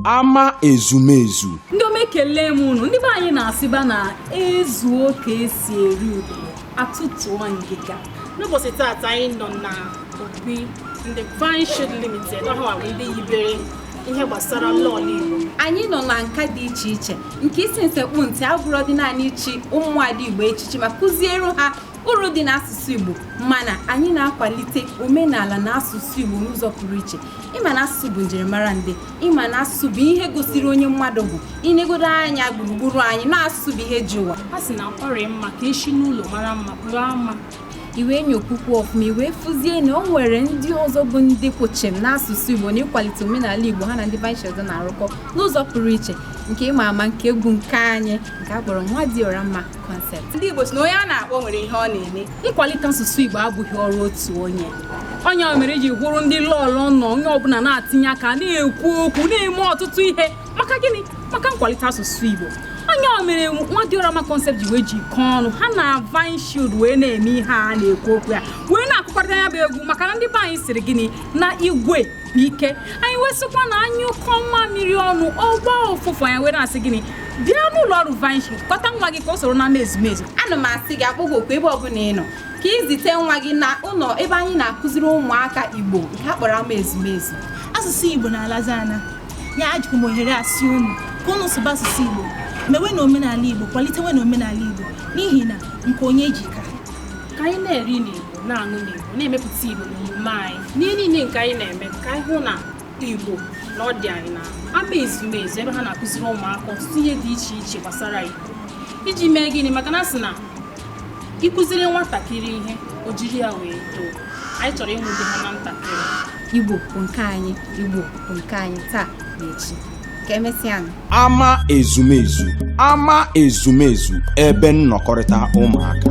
ama ezumezu ndị ọma ekele m unu ndị be anyị na-asịba na ezuo ka esi eri udo atụtụọ ngịga n'ụbọchị taata anyị nọ na obi ndị Vine Shield Limited ọ bụrụkwa ndị yibere ihe gbasara lọọlọ Igbo anyị nọ na nka dị iche iche nke isi nsekpụ ntị abụrọ dị naanị ichi ụmụada igbo echichi ma kụziere ha uru dị n'asụsụ Igbo mana anyị na-akwalite omenala na asụsụ Igbo n'ụzọ pụrụ iche ịma na asụsụ bụ njirimara ndị ịma na asụsụ bụ ihe gosiri onye mmadụ bụ inegodo anya gburugburu anyị na asụsụ bụ ihe ji ụwa a sị na ọ dị mma ka esi n'ụlọ mara mma pụrụ ama i wee nyokwukwuo ọfụma i wee fụzie na o nwere ndị ọzọ bụ ndị kwụ chịm n'asụsụ Igbo na ịkwalite omenala Igbo ha na ndị Vine Shield na-arụkọ n'ụzọ pụrụ iche nke ịma ama nke egwu nke anyị nke a kpọrọ nwa dị ọra mma concept. Ndị Igbo sị na onye a na-akpọ nwere ihe ọ na-eme. Nkwalite asụsụ Igbo abụghị ọrụ otu onye. Ọ nya mere iji hụrụ ndị lọọlọ na onye ọbụla na-atinye aka na-ekwu okwu na-eme ọtụtụ ihe maka gịnị maka nkwalite asụsụ Igbo ọ nya mere nwa dị ọra mma concept ji wee jikọọ ọnụ ha na vine shield wee na-eme ihe a na-ekwu okwu ya wee na-akụkọrịta ya bụ egwu maka na ndị be anyị sịrị gịnị na igwe bụ ike anyị wee sịkwa na anyụkọọ mamịrị ọnụ ọ gbaa ụfụfụ anyị were asị gịnị bịa n'ụlọ ọrụ Vine Shield kpọta nwa gị ka o soro n'ama ezumezu ana m asị gị akpọ gị oku ebe ọbụla ị nọ ka izite nwa gị na ụlọ ebe anyị na-akụziri ụmụaka igbo nke a kpọrọ ama ezumezu asụsụ igbo na-alazi ana ya ejikwu m ohere a sị unu ka unu sụba asụsụ igbo mewenụ omenala igbo kwalitewenụ omenala igbo n'ihi na nke onye ji ka ka anyị na-eri n'Igbo na-aṅụ n'Igbo na-emepụta Igbo n'omume anyị n'ihe niile nke anyị na-eme ka anyị hụ na Igbo na ọ dị anyị na ama ezumezu ebe ha na-akụziri ụmụaka ọtụtụ ihe dị iche iche gbasara Igbo iji mee gịnị maka na a sị na ị kụziri nwatakịrị ihe o jiri ya wee too anyị chọrọ inwude ha na ntakịrị Igbo bụ nke anyị Igbo bụ nke anyị taa na echi ka emesịanụ ama ezumezu ama ezumezu ebe nnọkọrịta ụmụaka